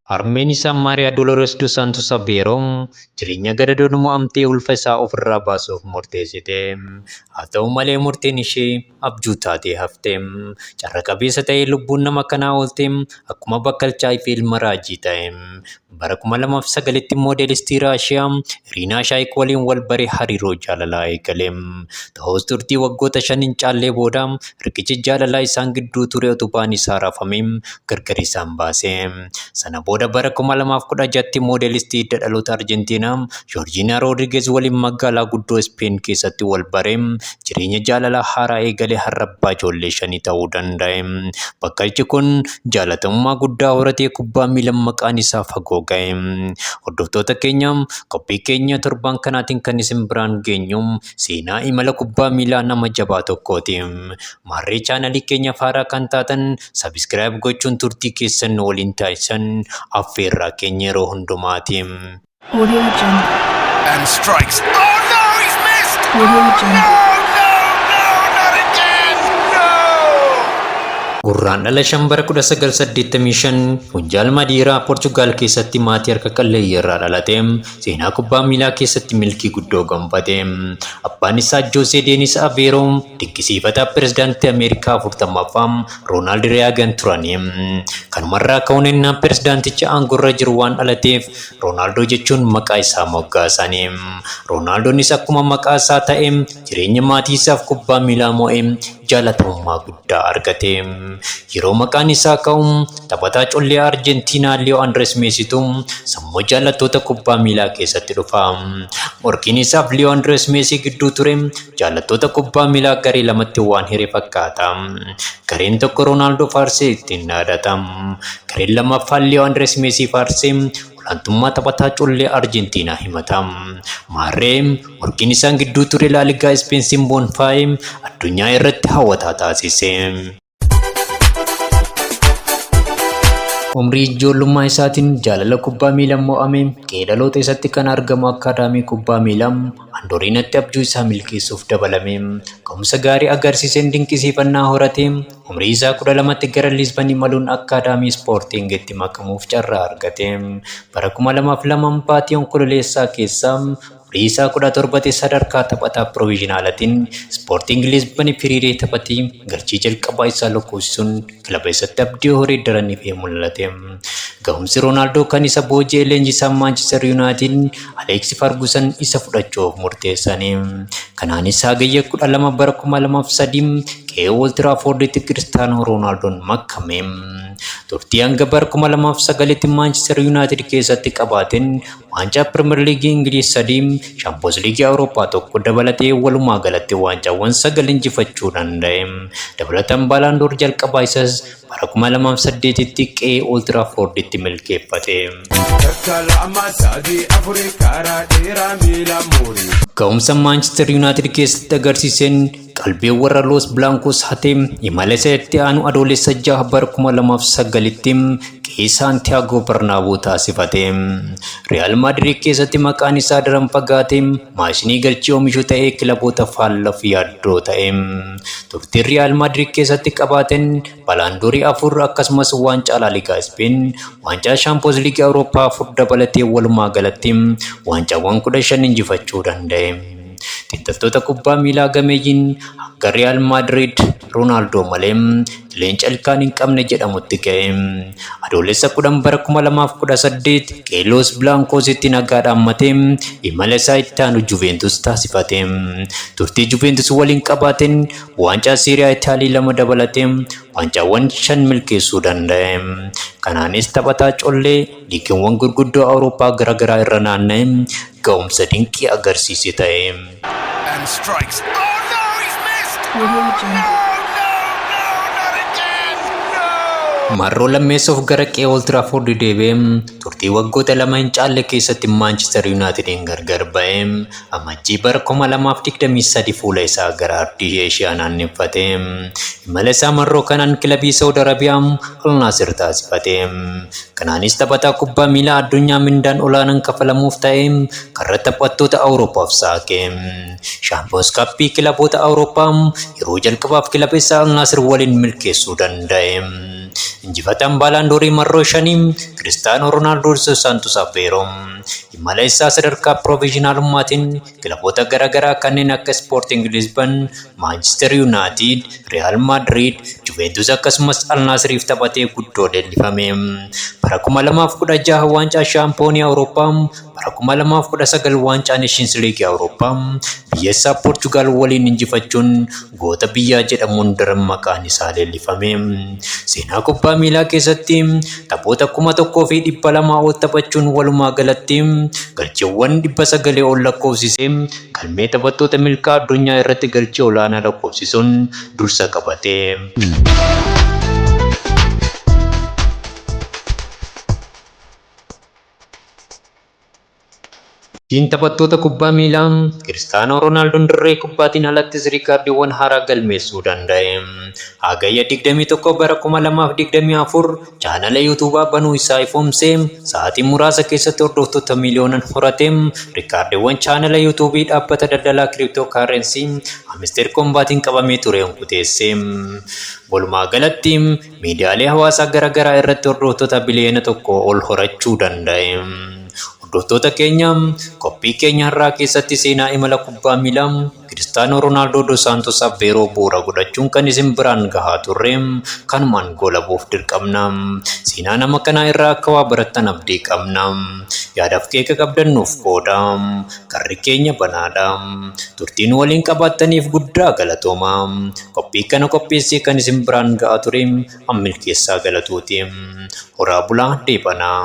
Harmeen isaa Maariyaa Dolores dos Santos Aveero jireenya gadadoo mo'amtee ulfa isaa ofirraa baasuuf murteessite. Haa ta'u malee murteen ishee abjuu taatee hafte. Carra qabeessa ta'ee lubbuun nama kanaa oolte akkuma bakkalchaa fi ilma raajii ta'e. Bara 2009tti moodelistii Raashiyaa Iriinaa Shaayik waliin wal bare hariiroo jaalalaa eegale. Ta'us turtii waggoota shan hin caallee booda riqichi jaalalaa isaan gidduu ture utubaan isaa raafame. gargar isaan baase. Sana booda bara 2016tti moodelistii hidda dhaloota Arjentiinaa Joorjiinaa Roodrigeez waliin magaalaa guddoo Ispeen keessatti wal bare jireenya jaalalaa haaraa eegale har'a abbaa ijoollee shanii ta'uu danda'e. Bakkalichi kun jaalatamummaa guddaa horatee kubbaa miilan maqaan isaa fagoo ga'e. Hordoftoota keenya qophii keenya torbaan kanaatiin kan isin biraan geenyu seenaa imala kubbaa miilaa nama jabaa tokkooti. Maarree chaanalii keenyaaf haaraa kan taatan Sabiskiraayib gochuun turtii keessan nu waliin taasisan affeerraa keenya yeroo hundumaati. Audio Jungle. And strikes. Oh no, he's missed! Audio Jungle. Gurraan dhala shan bara 1985 Hunjaal Madiiraa Poorchugaal keessatti maatii harka qalleeyyii irraa dhalate. Seenaa kubbaa miilaa keessatti milkii guddoo gonfate. Abbaan isaa Joosee Deenis Aveeroo dinqisiifataa pirezidaantii Ameerikaa 40ffaa Roonaald Reeyaagan turani. Kanumarraa ka'uun ennaa pirezidaantichi aangorra jiru waan dhalateef Roonaaldoo jechuun maqaa isaa moggaasani. Roonaaldonis akkuma maqaa isaa ta'e jireenya maatii isaaf kubbaa miilaa mo'ee jaalatamummaa guddaa argate. Yeroo maqaan isaa ka'u taphataa collee Arjentiinaa Liyoo Andirees Meesiitu sammuu jaallattoota kubbaa miilaa keessatti dhufa. Morkiin isaaf Liyoo Andirees Meesii gidduu ture jaallattoota kubbaa miilaa garee lamatti waan hire fakkaata. Gareen tokko Roonaaldoo faarsee ittiin dhaadata. Gareen lammaffaan Liyoo Andirees Meesii faarsee olaantummaa taphataa collee Arjentiinaa himata. Maarree, morkiin isaan gidduu ture Laaligaa Ispeen Simboon Faayi addunyaa irratti hawwataa taasise. Umrii ijoollummaa isaatiin jaalala kubbaa miilaan mo'ame qe'ee dhaloota isaatti kan argamu akkaadaamii kubbaa miilaa Andooriinatti abjuu isaa milkeessuuf dabalame. Ga'umsa gaarii agarsiiseen dinqisiifannaa horate. Umrii isaa 12tti gara Lisbon imaluun Akkaadaamii Ispoortiingitti makamuuf carraa argate. Bara 2002 baatii Onkololeessaa keessa umrii isaa 17tti sadarkaa taphataa piroviizhinaalatiin Ispoortiingi Lisbon hiriiree taphatee galchii jalqabaa isaa lakkoofsisuun kilaba isatti abdii horee daran ifee mul'ate. Gahumsi Roonaaldoo kan isa booji'e leenjisaan Maanchister Yuunaayitid Aleeksi Fargusan isa fudhachuuf murteessani. Kanaanis Hagayya 12 bara 2003 qe'ee Ool Tiraafoorditti Kiristaanoo Roonaaldoon makame. Turtii hanga bara 2009tti Maanchister Yuunaayitid keessatti qabaateen waancaa Piriimer Liigii Ingiliiz sadii, Shaampiyoons Liigii Awurooppaa tokko dabalatee walumaa galatti waancaawwan sagal injifachuu danda'e. Dabalataan Baalaandoor jalqabaa isas bara 2008tti qe'ee Old Traffordtti milkeeffate. Takka lama sadii afuri karaa dheeraa miila muuri. Ga'umsa Maanchister Yuunaayitid keessatti agarsiiseen qalbii warra Los Blancos hatee imala isa itti aanu Adoolessa 6 bara 2009tti qe'ee Saantiyaagoo Barnaaboo taasifate. Riyaal Maadirid keessatti maqaan isaa daran fagaatee maashinii galchii omishu ta'ee kilaboota faallaf yaaddoo ta'e. Turtiin Riyaal Maadriid keessatti qabaateen balaandoorii afur akkasumas waancaa Laaligaa Ispeen, waancaa Shaampiyoons Liigii Awurooppaa afur dabalatee walumaa galatti waancaawwan kudha shan injifachuu danda'e. Xiinxaltoota kubbaa miilaa gameeyyiin hanga Riyaal Maadriid Roonaaldoo malee leenca ilkaan hin qabne jedhamutti ka'e. Adoolessa kudhan bara kuma lamaaf kudha saddeet Qeelloos Bilaankoositti nagaadhaan matee imala isaa itti aanu Juveentus taasifate. Turtii Juveentus waliin qabaateen waancaa Seeriyaa Itaalii lama dabalatee waancaawwan shan milkeessuu danda'e. Kanaanis taphataa collee liigiiwwan gurguddoo Awurooppaa gara garaa irra naanna'ee ga'umsa dinqii agarsiise ta'e. and strikes. Oh no, he's missed! Audio Oh Jungle. no, no, no, not again! No! Marroo lammeessoof gara qe'ee Old Trafford deebi'ee turtii waggoota lama hin caalle keessatti Maanchister Yuunaayitidiin gargar ba'e. Amajjii bara 2023 fuula isaa gara ardii Eeshiyaa naanneffate. Imala isaa marroo kanaan kilabii Saawud Arabiyaa Al Naasir taasifate. Kanaanis taphataa kubbaa miilaa addunyaa mindaan olaanaan kafalamuuf ta'e karra taphattoota Awurooppaaf saaqe. Shaampiyoons Kappii kilaboota Awurooppaa yeroo jalqabaaf kilaba isaa Al Naasir waliin milkeessuu danda'e. Injifataan Baalaandoorii marroo shanii Kiristaanoo Ronaaldoo Dos Saantos Aveeroo. Imala isaa sadarkaa piroovizhinaalummaatiin kilaboota gara garaa kanneen akka Ispoorting Lisban, Maanchister Yuunaatiid, Riyaal Maadriid, Juveentus akkasumas Al Naasiriif taphatee guddoo leellifame. Bara 2016 waancaa Shaampiyoonii Awurooppaa, bara 2019 waancaa Neeshiins Liigii Awurooppaa biyya isaa Poorchugaal waliin injifachuun Goota biyyaa jedhamuun daran maqaan isaa leellifame. Seenaa kubbaa miilaa keessatti taphoota kuma tokkoo fi dhibba lamaa ol taphachuun walumaa galatti galchiiwwan dhibba sagalee ol lakkoofsisee galmee taphattoota milkaa addunyaa irratti galchii olaanaa lakkoofsisuun dursa qabate. Sochiin taphattoota kubbaa miilaa Kiristaanoo Roonaaldoon dirree kubbaatiin alattis riikaardiiwwan haaraa galmeessuu danda'e. Hagayya 21 bara 2024 chaanala Yuutuubaa banuu isaa ifoomsee sa'aatii muraasa keessatti hordoftoota miiliyoonan horate riikaardiiwwan chaanala Yuutuubii dhaabbata daldalaa kiriiptoo kaarrensii Amisteer Koombaatiin qabamee ture hunkuteesse. Walumaa galatti Miidiyaalee hawaasaa gara garaa irratti hordoftoota biliyoona tokkoo ol horachuu danda'e. Hordoftoota keenya, qophii keenya har'aa keessatti seenaa imala kubbaa miilaa Kiristaanoo Ronaaldoo Dos Saantos Aveeroo bu'uura godhachuun kan isin biraan gahaa turre kanumaan goolabuuf dirqamna. Seenaa nama kanaa irraa akka waa barattan abdii qabna. Yaadaaf qeeqa qabdan nuuf qoodaa. Karri keenya banaadha. Turtii nu waliin qabaattaniif guddaa galatooma. Qophii kana qopheessee kan isin biraan ga'aa ture an milkeessaa galatooti. Horaa bulaa deebanaa.